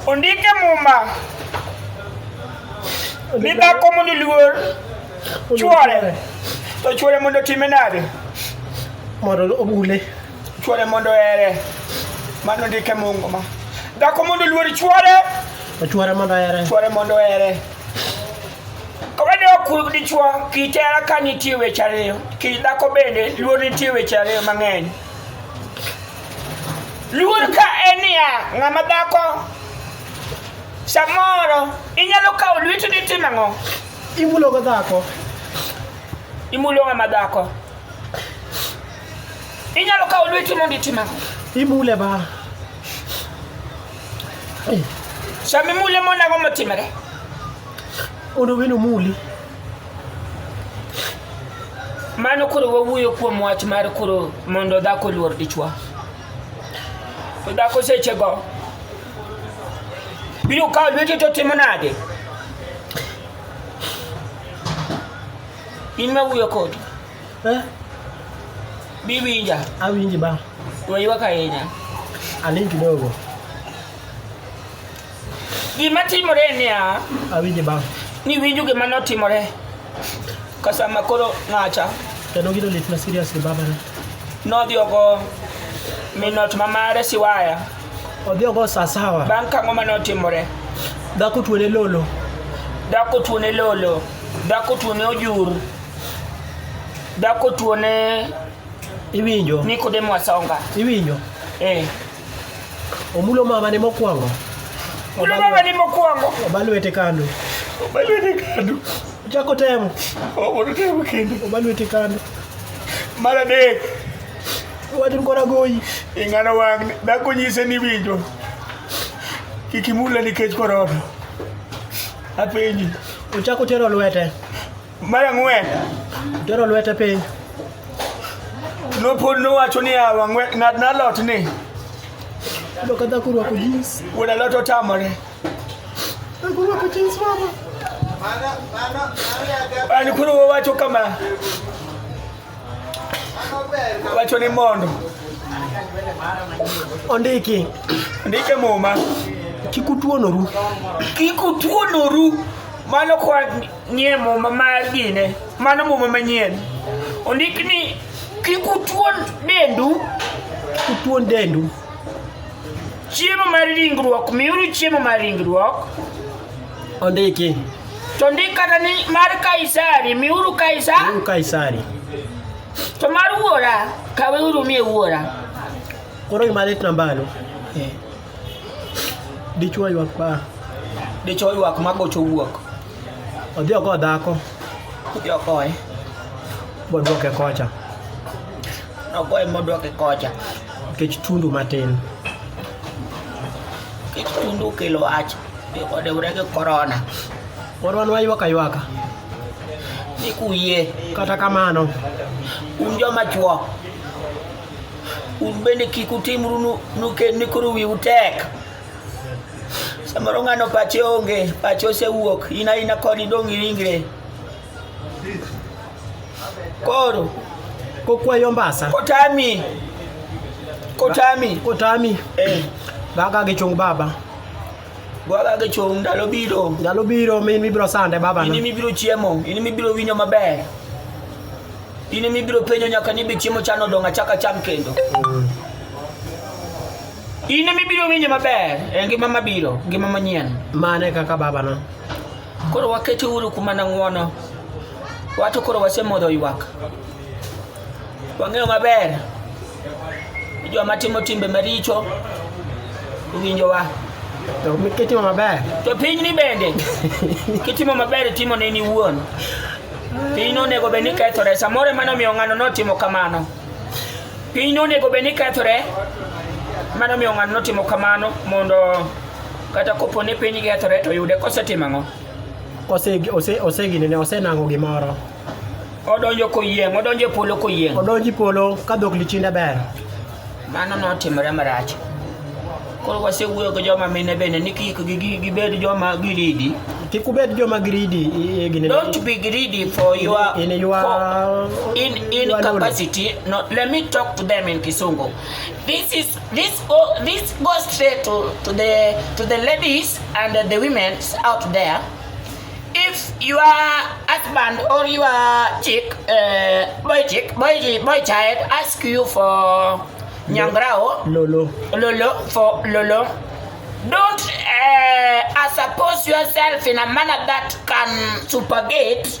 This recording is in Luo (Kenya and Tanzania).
Ondike Muma ni dhako mondo luor chwore to chwore mondo time nade mondo obule chwore mondo ere mano ndike Muma dhako mondo luor chwore to chwore mondo ere chwore mondo ere Kowedok dichwo kitera ka nitie weche ariyo, kidhako bende luor nitie weche ariyo mang'eny. Luor ka en niya, ng'ama dhako samoro inyalo kawo lweti ni tim ang'o? Imulo go dhako. Imulo ng'ama dhako. Inyalo kawo lweti mondo itim ang'o? Imule ba. Shami mule mona kwa mutima ke. Ono wino muli. Mano koro wawuoyo kuom wach mar koro mondo dhako luor dichwa. To dhako sechego biro kawo lweti to timo nade? In ma wuoyo kodi. Eh, Bi winja. awinji ba. Waywak ahinya. Aling kidogo. Gima timore en niya, Awinji ba. niwinjo gima notimore ka sama koro ng'acha Kendo gino lit na seriously baba na. nodhi ogo minot ma mare siwaya Odhi ogo saa sawa. bang' kang'o ma notimore Dhako tuone lolo. dhako tuone lolo dhako tuone ojur Dhako tuo ne Iwinjo? Nikodemo Asonga. Iwinjo? Eh. Omulo mama ne mokwongo. Omulo mama ne mokwongo. Oba lwete kando. Oba lwete kando. Ochako temo. Obodo temo kendo. Oba lwete kando. Mar adek. Watin kora goyi. Ing'ano wang' dhako nyise ni winjo. Kik imule nikech korona. Apenji. Ochako tero lwete. Mar ang'wen, Tero lwete piny. nopod nowacho niya, "Wang'we- ng'at na lot ni Yudo ka dhako orwako jeans. wuod alot otamore. Dhako orwako jeans mama. An koro wawacho kama, wacho ni mondo Ondiki. ndike muma Kik utuonoru. kik utuonoru mano kwa Nie muma mar gine, mano muma manyien. Ondik ni kik utuon dendu, kik utuon dendu. Chiemo mar ringruok, miuru chiemo mar ringruok. Ondiki. To ndik kata ni mar Kaisari, miuru Kaisari. Miuru Kaisari. To mar wuora, kaweuru mie wuora. Koro gima lit nambano. Eh. Dichwo ywak pa. Dichwo ywak ma gocho wuok. Odhi oko dhako. Odhi oko e. Bodwoke kocha. Ogoye modwoke kocha. Nikech tundu matin. Nikech tundu kelo wach. Odewre gi korona. Pod wan waywaka ywaka. Ni kuyie. Kata kamano. Un joma chwo. un bende kik utimru ni koro wiu tek samoro ng'ano pache onge pache osewuok in aina koni dong' iringre koro kokwayo mbasa kotami kotami kotami eh. baka gichung baba Bwaga gi chung' ndalo biro. Ndalo biro min mibiro sande baba. In mibiro chiemo, in mibiro winyo maber. In mibiro penjo nyaka ni be chiemo chan odong' achaka cham kendo. Mm. In mibiro winyo maber e ngima mabiro, ngima manyien. Mane kaka baba no. Koro wakete uru kuma nang'wono. Wato koro wasemodho ywak. Wang'eyo maber ni joma timo timbe maricho owinjowa. To kitimo maber. To pinyni bende kitimo maber timo ne ni wuon. Piny onego bed ni kethore. Samoro ema nomiyo ng'ano notimo kamano. Piny onego bed ni kethore. Mano miyo ng'ano notimo kamano mondo kata kopo ni piny kethore to yude kosetimo ang'o? Osegine ne osenang'o gimoro. odonjo koyieng' odonjo e polo koyieng' odonjo e polo ka dhok lichinda ber mano notimore marach koro wasewuoyo gi joma mine bende ni kik gibed joma giridi kik ubed joma giridi don't be greedy for your in your for, in in your capacity knowledge. no let me talk to them in kisungu this is this go this goes straight to to the to the ladies and the women out there if you are husband or you are chick uh, boy chick boy boy child ask you for nyangrao lolo lolo for lolo don't uh, suppose yourself in a manner that can supergate